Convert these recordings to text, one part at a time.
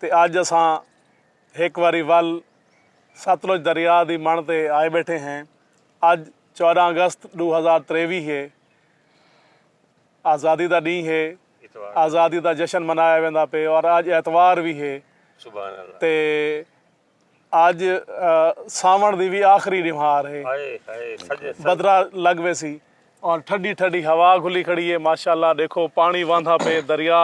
تے اج اساں ہک واری ول ستلج دریا دی مݨ تے آئے ٻیٹھے ہیں۔ اج چوداں اگست ݙو ہزار تریوی ہے۔ آزادی دا ݙینہہ ہے۔ آزادی دا جشن منایا ویندا پئے اور اج اتوار وی ہے۔ تے اج ساوݨ دی وی آخری ݙیوہار ہے بدرا لڳ ویسی اور ٹھڈی ٹھڈی ہوا گھلی کھڑی ہے ماشاءاللہ ݙیکھو پاݨی وہندا پئے دریا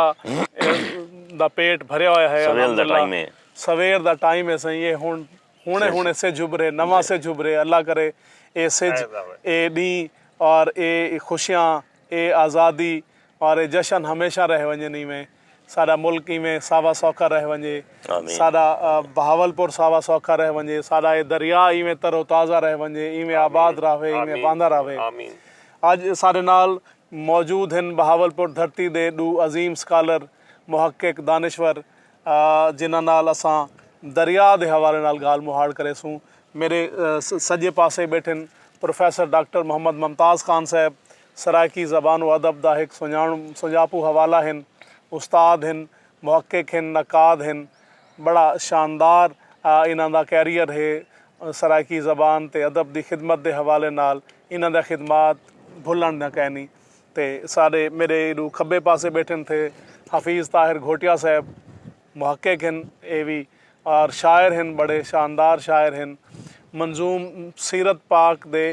دا پیٹ بھریا ہویا ہے الحمدللہ سویر دا ٹائم ہے سئیں اے ہݨ ہݨے ہݨے سجھ ابھرے نواں سجھ ابھرے اللہ کرے اے سجھ اے ݙینہہ اور اے خوشیاں اے آزادی اور اے جشن ہمیشہ رہ ونڄن ایویں ساݙا ملک ایویں ساوا سوکھا رہ ونڄے، ساݙا بہاولپور ساوا سوکھا رہ ونڄے، ساݙا اے دریا ایویں تر و تازہ رہ ونڄے، ایویں آباد رہوے، ایویں وہندا رہوے۔ اڄ ساݙے نال موجود ہن بہاولپور دھرتی دے ݙو عظیم سکالر، محقق، دانشور جنہاں نال اساں دریا دے حوالے نال ڳالھ مہاڑ کریسوں۔ میݙے سڄے پاسے ٻیٹھن پروفیسر ڈاکٹر محمد ممتاز خان صاحب سرائیکی زبان و ادب دا ہک سنڄاݨ سنڄاپو حوالہ ہن، استاد ہن، محقق ہن، نقاد ہن، ٻڑا شاندار انہاں دا کیریئر ہے، سرائیکی زبان تے ادب دی خدمت دے حوالے نال انہاں دیاں خدمات بھلݨ دیاں کائنی تے سارے میݙے ایݙوں کھٻے پاسے ٻیٹھن تھے حفیظ طاہر گھوٹیا صاحب محقق ہن اے وی اور شاعر ہن ٻڑے شاندار شاعر ہن منظوم سیرت پاک دے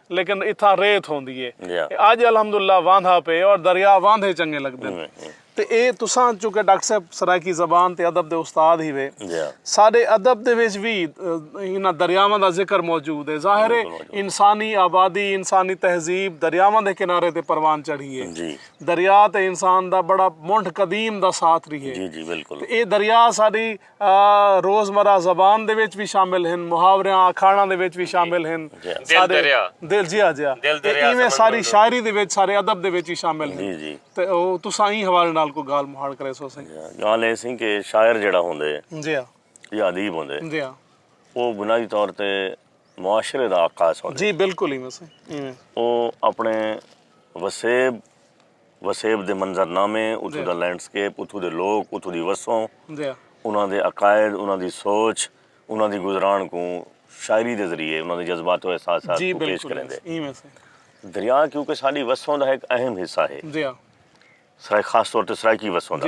لیکن اتھاں ریت ہوندی اے۔ اج الحمد اللہ واندھا پئے اور دریا واندھے چنگے لگدن۔ تے اے تساں چونکہ ڈاکٹر صاحب سرائیکی زبان تے ادب دے استاد ہیوے۔ ساڈے ادب دے وچ وی انہاں دریاواں دا ذکر موجود اے۔ ظاہر اے انسانی آبادی، انسانی تہذیب دریاواں دے کنارے تے پروان چڑھی اے۔ دریا تے انسان دا بڑا منڈھ قدیم دا ساتھ ریہے۔ تے اے دریا ساڈی روز مرہ زبان دے وچ وی شامل ہن محاوریاں آکھاڑاں دے وچ وی شامل ہن دل دریا دل جیا جیا دل دریا ایویں ساری شاعری دے وچ سارے ادب دے وچ وی شامل ہن تے تساں ایں حوالے نال کوئی گالھ مہاڑ کرے سو سائیں گالھ اے سائیں کہ شاعر جیڑا ہوندے جی ہاں یا ادیب ہوندے جی ہاں او بنائی طور تے معاشرے دا عکاس ہوندے جی بالکل ایویں سائیں ایویں او اپنے وسیب وسیب دے منظر نامے، اتھوں دا لینڈ سکیپ، اتھوں دے لوک، اتھوں دی وسوں، انہاں دے عقائد، انہاں دی سوچ، انہاں دی گزران کوں شاعری دے ذریعے انہاں دے جذبات و احساسات کوں پیش کریندے۔ دریا کیونکہ ساݙی وسوں دا ہک اہم حصہ ہے۔ سرائیکی خاص طور تے سرائیکی وسوں دا۔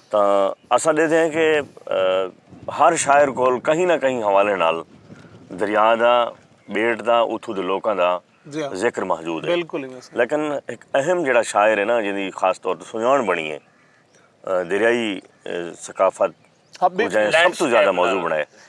تاں اساں ڈیدھے ہیں کہ ہر شاعر کول کہیں نہ کہیں حوالے نال دریا دا بیٹ دا اتھوں دے لوکاں دا ذکر محجود ہے لیکن ہک اہم جیڑا شاعر ہے نا جیندی خاص طور تے سنجان بنی ہے دریائی ثقافت کوں جئیں سب توں زیادہ موضوع بنائے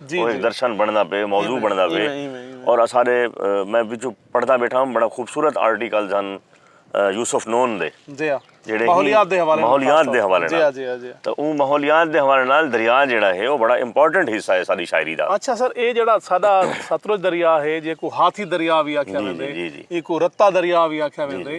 او ہک درشن بݨدا پئے موضوع بݨدا پئے اور اساݙے میں وچوں پڑھدا بیٹھا ہوں بڑا خوبصورت آرٹیکلز ہن یوسف نون دے جیڑھے ماحولیات دے حوالے ماحولیات دے حوالے نال تاں او ماحولیات دے حوالے نال دریا جیڑھا ہے او بڑا امپورٹنٹ حصہ ہے ساݙی شاعری دا اچھا سر اے جیڑھا ساݙا ستلج دریا ہے جیکوں ہاتھی دریا وی آکھیا ویندے ایکوں رتا دریا وی آکھیا ویندے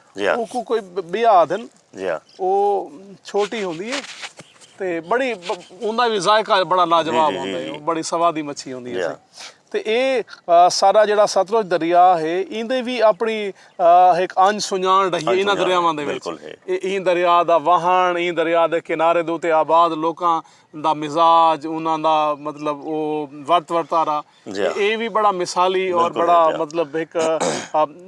جی ہاں اوکو کوئی بیا آدھن جی ہاں او چھوٹی ہوندی ہے تے بڑی اوندا وی ذائقہ بڑا لاجواب ہوندا ہے بڑی سوادی مچھی ہوندی ہے تے اے سارا جیڑا ستلج دریا ہے ایندے وی اپنی ہک انج سنجان ڈہی ہے انہاں دریاواں دے وچ ایں دریا دا واہن ایں دریا دے کنارے دے اتے آباد لوکاں دا مزاج انہاں دا مطلب او ورت ورتارا جی ہاں۔ اے وی بڑا مثالی اور بڑا مطلب ہک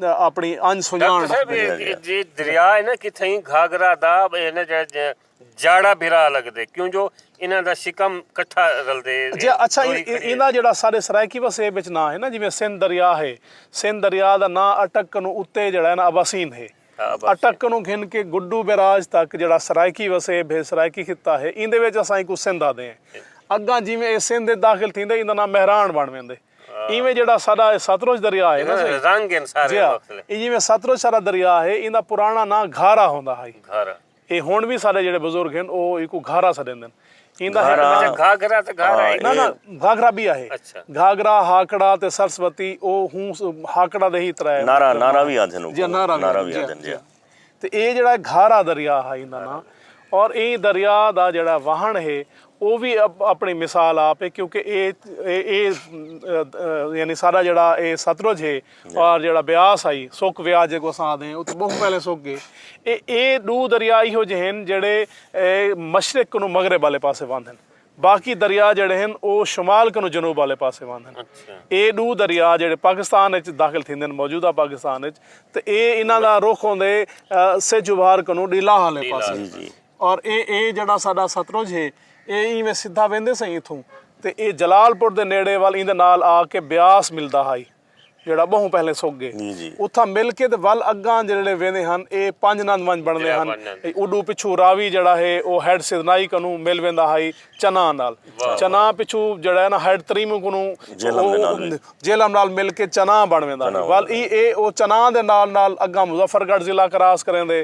اپنی انج سنجان۔ ڈاکٹر صاحب اے جے دریا ہے نا کتھائیں گھاگھرا دا اے نا جیڑا جاڑا بھرا لگدے کیوں جو انہاں دا شکم کٹھا رلدے۔ جی اچھا ایندا جیڑا سارے سرائیکی وسیب وچ ناں ہے نا جیویں سندھ دریا ہے۔ سندھ دریا دا ناں اٹک کنوں اتے جیڑا ہے نا اباسین ہے۔ اٹک کنوں گھن کے گڈو بیراج تک جیڑھا سرائیکی وسیب ہے، سرائیکی خطہ ہے، ایندے وچ اساں اینکوں سندھ آہدے ہیں۔ اگاں جیویں ایہ سندھ وچ داخل تھیندے ایندا ناں مہراݨ بݨ ویندے۔ ایویں جیڑھا ساݙا ایہ ستلج دریا ہے نا سئیں، جی ہا، ایہ جیویں ستلج ساݙا دریا ہے ایندا پراݨا ناں گھارا ہوندا ہئی۔ اے ہن وی ساڈے جیڑھے بزرگ ہن او ایکوں گھاگھرا سڈیندن۔ ایندا ہک ناں۔ اچھا گھاگھرا تے گھاگھرا ہک۔ ناں ناں گھاگھرا بی آہے۔ اچھا۔ گھاگھرا، ہاکڑا تے سرسوتی او ہوں ہاکڑا دے ہی ترے۔ نارا نارا وی آندھن اوکوں۔ جی نارا وی آندھن جی جی۔ تے اے جیڑھا گھاگھرا دریا ہا ایندا ناں اور ایں دریا دا جیڑھا واہن ہے او وی اپݨی مثال آپ اے کیونکہ اے اے یعنی ساݙا جیڑھا اے ستلج ہے اور جیڑھا بیاس ہئی سک ویا جیکوں اساں آہدے ہیں او تاں ٻہوں پہلے سک ڳئے اے اے ݙو دریا ایہو جے ہن جیڑھے مشرق کنوں مغرب آلے پاسے واندن باقی دریا جیڑھے ہن او شمال کنوں جنوب آلے پاسے واندن اے ݙو دریا جیڑھے پاکستان اچ داخل تھیندن موجودہ پاکستان اچ تے اے انہاں دا رخ ہوندے سجھ ابھار کنوں ݙیلاہ آلے پاسے۔ اور اے اے جیڑھا ساڈا ستلج ہے اے اینویں سدھا ویندے سئیں اتھوں۔ تے اے جلال پور دے نیڑے ول ایندے نال آ کے بیاس ملدا ہائی جیڑھا بہوں پہلیں سک گئے۔ اتھاں مل کے تے ول اگاں جیڑھے ویندے ہن اے پنج نند ونج بنڑدے ہن۔ اوڈو پچھوں راوی جیڑھا ہے او ہیڈ سیدنائی کنوں مل ویندا ہائی چناں نال۔ چناں پچھوں جیڑھا ہے نا ہیڈ تریموں کنوں جہلم نال مل کے چناں بنڑ ویندا ہائی۔ ول ای اے او چناں دے نال نال اگاں مظفر گڑھ ضلع کراس کریندے۔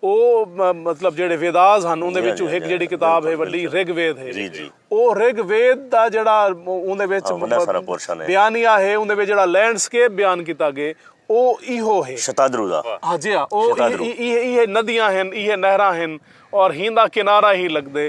او مطلب جیڑھے ویداز ہن اوندے وچوں ہک جیڑھی کتاب ہے وڈی رگ وید ہے او رگ وید دا جیڑھا اوندے وچ بیانیہ ہے اوندے وچ جیڑھا لینڈ سکیپ بیان کیتا گئے او ایہو ہے۔ شتادرو دا۔ ہاں جی ہاں او ایہے ندیاں ہن ایہے نہراں ہن اور ہیندا کنارہ ہی لگدے۔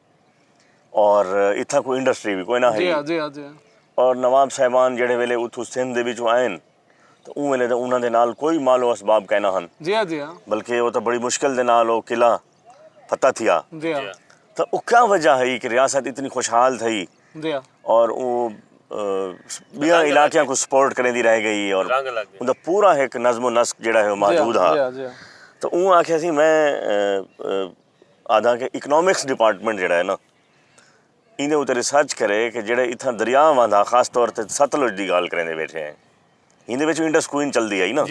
اور اتھاں کوئی انڈسٹری وی کوئناں ہئی۔ اور نواب صاحبان جیڑھے ویلے اتھوں سندھ دے وچوں آئن تاں اوں ویلے تاں انہاں دے نال کوئی مال و اسباب کائناں ہن۔ بلکہ او تاں بڑی مشکل دے نال او قلعہ فتح تھیا۔ تاں او کیا وجہ ہئی کہ ریاست اتنی خوشحال تھئی اور او بیاں علاقیاں کوں سپورٹ کریندی رہ گئی اور اوں دا پورا ہک نظم و نسق جیڑھا ہے او موجود ہا۔ تاں اوں آکھیا سی میں۔ آدھاں کہ اکنامکس ڈیپارٹمنٹ جیڑھا ہے نا ایندے اتے ریسرچ کرے کہ جیڑھے اتھاں دریا وہندا خاص طور تے ستلج دی گالھ کریندے بیٹھے ہیں ہیندے وچ انڈس کوئین چلدی ہئی نا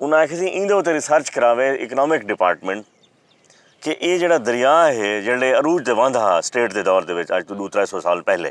انہاں آکھیا سی ایندے اتے ریسرچ کراوے اکنامک ڈیپارٹمنٹ کہ اے جیڑھا دریا ہے جیڑھے عروج تے وہندا ہا سٹیٹ دے دور دے وچ اج توں ݙو ترے سو سال پہلے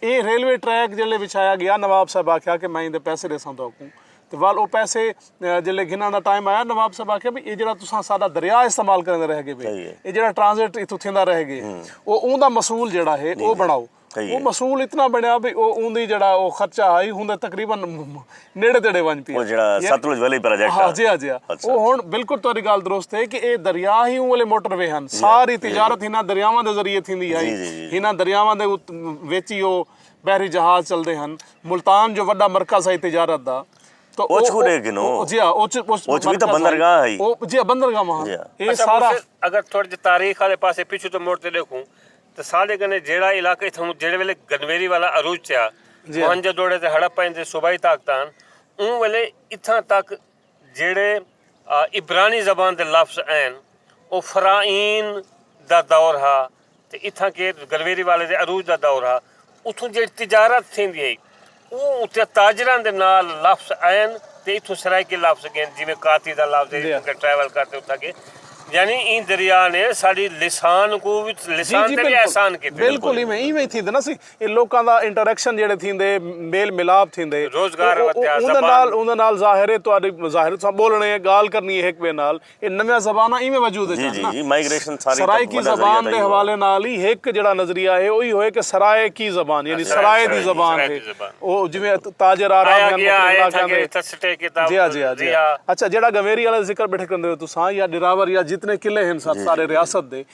اے ریلوے ٹریک جیلے وچھایا گیا نواب صاحب آکھیا کہ میں ایندے پیسے ڈیساں تہاکوں تے ول او پیسے جیلے گھنن دا ٹائم آیا نواب صاحب آکھیا بھئی اے جیڑھا تساں ساڈا دریا استعمال کریندے رہ گے بھئی اے جیڑھا ٹرانزٹ ایتھوں تھیندا رہ گے او اوندا مسول جیڑھا ہے او بنڑاؤ او مسول اتنا بنڑیا بھئی او اوندی جیڑھا او خرچہ ہئی ہوندے تقریبا نیڑے تیڑے ونج پی او جڑا ستلج ویلی پروجیکٹ ہاں جی ہاں جی ہاں او ہن بالکل تہاڈی گال درست ہے کہ اے دریا ہی اوں والے موٹر وے ہن ساری تجارت ہناں دریاواں دے ذریعے تھیندی ہائی ہناں دریاواں دے وچ ہی او بحری جہاز چلدے ہن ملتان جو وڈا مرکز ہائی تجارت دا اوچ کو دے گنو جی ہاں اوچ اوچ وی تاں بندرگاہ ہائی جی ہاں بندرگاہ وہاں اے سارا اگر تھوڑی جی تاریخ والے پاسے پیچھے تو موڑ تے دیکھوں تے ساݙے کنے جیڑھا علاقہ اتھاں کوں جیڑھے ویلے گنویری والا عروج چیا، موہنجو دوڑے تے ہڑپہ ایندے صوبائی طاقتاں ہن، اوں ویلے اتھاں تک جیڑھے عبرانی زبان دے لفظ این او فرائین دا دور ہا تے اتھاں کیت گنویری والے دے عروج دا دور ہا، اتھوں جیڑھی تجارت تھیندی ہئی اوں اتے تاجراں دے نال لفظ آئن تے اتھوں سرائیکی لفظ گین جیویں کاتی دا لفظ ہے اتھوں کے ٹریول کر تے اتھاں گئے یعنی ایں دریا نے ساڈی لسان کو وی لسان تے وی احسان کیتے۔ بالکل ایویں ایویں ہی تھیندے نا سی اے لوکاں دا انٹریکشن جیڑھے تھیندے میل ملاپ تھیندے روزگار ودھیا زبان اوندے نال ظاہر ہے تہاڈی ظاہر تساں بولنے گال کرنی ہک بے نال اے نویاں زباناں ایویں وجود اچ آن نا۔ سرائیکی زبان دے حوالے نال ای ہک جیڑھا نظریہ ہے او ای ہوئے کہ سرائے کی زبان یعنی سرائے دی زبان ہے۔ او جیویں تاجر آ رہا ہن مکہ مکرانے۔ جی ہا جی ہا جی ہا۔ اچھا جیڑھا گنویری آلا ذکر بیٹھے کریندے ہو تساں یا ڈراور یا جتنے قلعے ہن سارے ریاست دے۔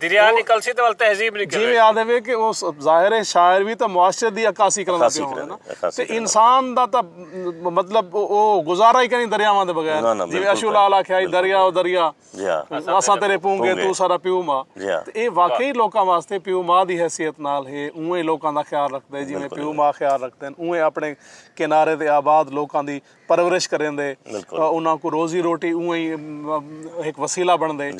دریا نکلسی تے ول تہذیب نکلسی جیویں آدھے وے کہ اس ظاہر ہے شاعر وی تے معاشرے دی عکاسی کرنا پیا ہووے نا تے انسان دا تے مطلب او گزارا ہی کہیں دریاواں دے بغیر جیویں اشو لال آکھیا ہی دریا او دریا اساں تیرے پونگے تو سارا پیو ما تے اے واقعی لوکاں واسطے پیو ما دی حیثیت نال ہے اونویں لوکاں دا خیال رکھدے جیویں پیو ما خیال رکھدے اونویں اپنے کنارے دے آباد لوکاں دی پرورش کریندے انہاں کوں روزی روٹی اونہی ہک وسیلہ بنڑدے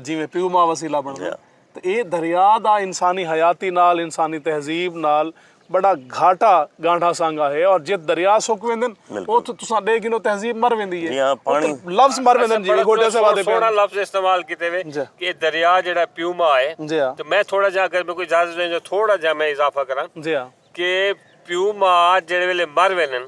جیویں پیو ماں وسیلہ بنڑدے تاں ایہ دریا دا انسانی حیاتی نال انسانی تہذیب نال بڑا گھاٹا گانڑھا سانگا ہے اور جتھ دریا سک ویندن اتھ تساں ڈے گھنو تہذیب مر ویندی ہے لفظ مر ویندن جی گھوٹے سے وعدے سونا لفظ استعمال کیتے وے کہ دریا جیڑا پیو ماں ہے تاں میں تھوڑا جا اگر میکو اجازت ڈیجو تھوڑا جا میں اضافہ کراں کہ پیو ماں جیڑے ویلے مر ویندن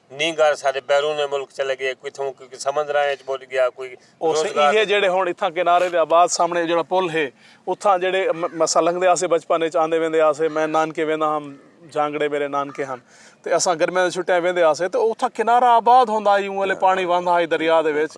نینگر سارے بیرون ملک چلے ڳئے کوئی اتھوں کوئی سمندراں وچ ٻݙ ڳیا کوئی روزگار ایہے جیڑھے ہݨ اتھاں کنارے دے آباد سامݨے جیڑھا پل ہے اتھاں جیڑھے اساں لنگھدے ہاسے بچپن وچ آندے ویندے ہاسے میں نانکے ویندا ہم جھانگڑے میرے نانکے ہن تے اساں گرمیاں دی چھٹیاں ویندے ہاسے تے اتھاں کنارہ آباد ہوندا ہئی اوں ویلے پاݨی وہندا ہئی دریا دے وچ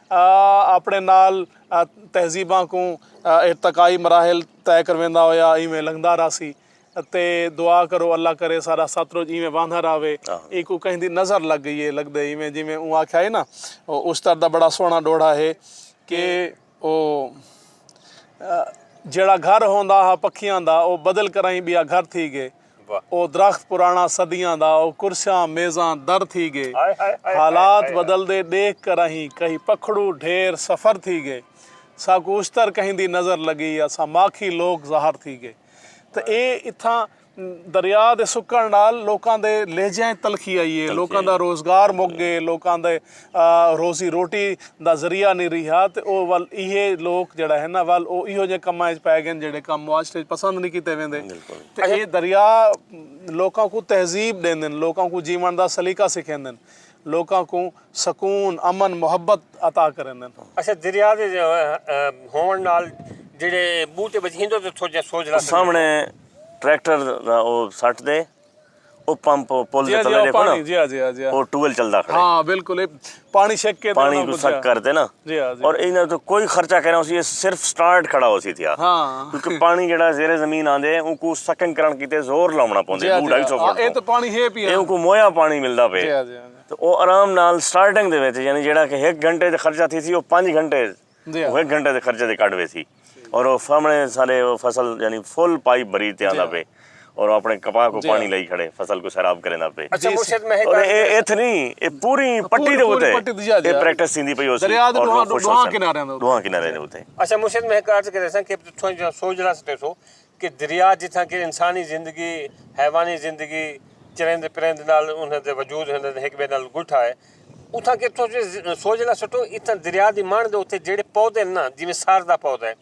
اپݨے نال تہذیباں کوں ارتقائی مراحل طے کرویندا ہویا ایویں لنگھدا رہسی تے دعا کرو اللہ کرے ساݙا ستلج ایویں واہندا رہوے اینکوں کہیں دی نظر لڳ ڳئی اے لڳدے ایویں جیویں اوں آکھیا ہئی نا او اشتر دا بڑا سوہݨا ݙوہڑا ہے کہ او جیڑھا گھر ہوندا ہا پکھیاں دا او بدل کرائیں ٻیا گھر تھی ڳئے او درخت پراݨا صدیاں دا او کرسیاں میزاں در تھی ڳے حالات بدلدے ݙیکھ کر اہیں کہیں پکھڑو ڈھیر سفر تھی ڳے ساکوں اشتر کہیں دی نظر لڳی اساں ماکھی لوک ظاہر تھی ڳے تاں اے اتھاں دریا دے سکݨ نال لوکاں دے لہجیاں اچ تلخی آئی اے لوکاں دا روزگار مک ڳے لوکاں دے روزی روٹی دا ذریعہ نی ریہا تے او ول ایہے لوک جیڑھا ہے نا ول او ایہو جے کماں اچ پے گن جیڑھے کم معاشرے اچ پسند نی کیتے ویندے تے اے دریا لوکاں کوں تہذیب ڈیندن لوکاں کوں جیون دا سلیقہ سکھیندن لوکاں کوں سکون امن محبت عطا کریندن۔ اچھا دریا دے ہوونڑ نال جیڑھے بوٹے بچ ہندو تے تھوڑا جیہا سوجھلا سامنڑے ٹریکٹر دا او سٹ دے۔ او پمپ پل دے تلے ڈیکھو نا او ٹویل چلدا کھڑے ہاں بالکل پانی شک کے پانی کو شک کر دے نا اور اینا تو کوئی خرچہ کہنا اسی صرف سٹارٹ کھڑا ہو سی تھیا کیونکہ پانی جڑا زیر زمین آندے ان کو سکنگ کرن کیتے زور لاونا پوندے دو ڈھائی سو فٹ اے تو پانی ہے پیا ان کو مویا پانی ملدا پے تو او آرام نال سٹارٹنگ دے وچ یعنی جڑا کہ ایک گھنٹے دے خرچہ تھی سی او پانچ گھنٹے او ہک گھنٹے دے خرچے تے کڈھ ویسی اور او فامنے سارے او فصل یعنی فل پائپ بھری تے آندا پے اور او اپنے کپاہ کو پانی لائی کھڑے فصل کو سیراب کریندا پے اور اے ایتھ نی اے پوری پٹی دے اوتے اے پریکٹس تھیندی پئی ہوسی اور لوگ خوش ہوسن دوہاں کناریاں دے اوتے اچھا مرشد میں ہک عرض کریساں کہ تساں سوجھنا سٹیسو کہ دریا جتھاں کہ انسانی زندگی، حیوانی زندگی، چریندے پریندے نال انہاں دے وجود ہن ہک بئے نال گٹھا ہے اتھاں کہ تساں سوج لا سٹو اتھاں دریا دی مݨ دے اتے جیڑھے پودے ہن نا جیویں سار دا پودا ہے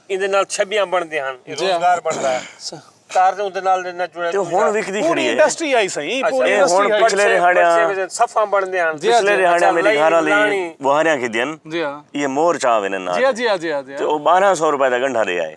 ایندے نال چھبیاں بݨدیاں ہن اے روزگار بݨدا ہے۔ تار دے اوندے نال نہ جڑے تے ہن وکدی کھڑی ہے۔ اے ہن پچھلے ریہاڑیاں صفاں بݨدیاں ہن۔ پچھلے ریہاڑیاں میری گھر آلی ٻوہاریاں کھدیاں ہن ایہ مور چا ویندے ہن تے او ٻارہاں سو روپے دا گنڈھا ݙے آئے۔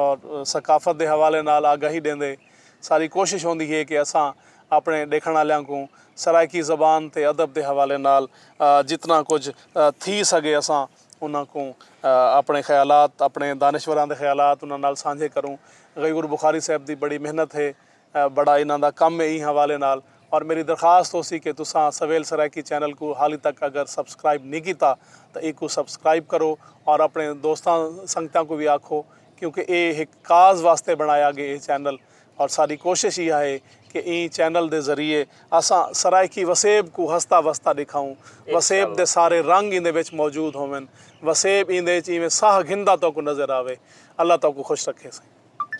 اور ثقافت دے حوالے نال آگاہی ݙیندے ساری کوشش ہوندی ہے کہ اساں اپݨے ݙیکھݨ آلیاں کوں سرائیکی زبان تے ادب دے حوالے نال جتنا کجھ تھی سڳے اساں انہاں کوں اپݨے خیالات اپݨے دانشوراں دے خیالات انہاں نال سانجھے کروں۔ غیور بخاری صاحب دی بڑی محنت ہے بڑا انہاں دا کم ہے ایں حوالے نال اور میری درخواست ہوسی کہ تساں سویل سرائیکی چینل کوں حالی تک اگر سبسکرائب نی کیتا تاں ایکوں سبسکرائب کرو اور اپنے دوستاں سنگتاں کوں وی آکھو کیونکہ اے ہک کاز واسطے بنڑایا گے اے چینل اور ساڈی کوشش ایہا ہے کہ ایں چینل دے ذریعے اساں سرائیکی وسیب کوں ہستا وستا ڈکھاؤں وسیب دے سارے رنگ ایندے وچ موجود ہوون وسیب ایندے وچ ایویں ساہ گھندا توکوں نظر آوے اللہ توکوں خوش رکھے سائیں۔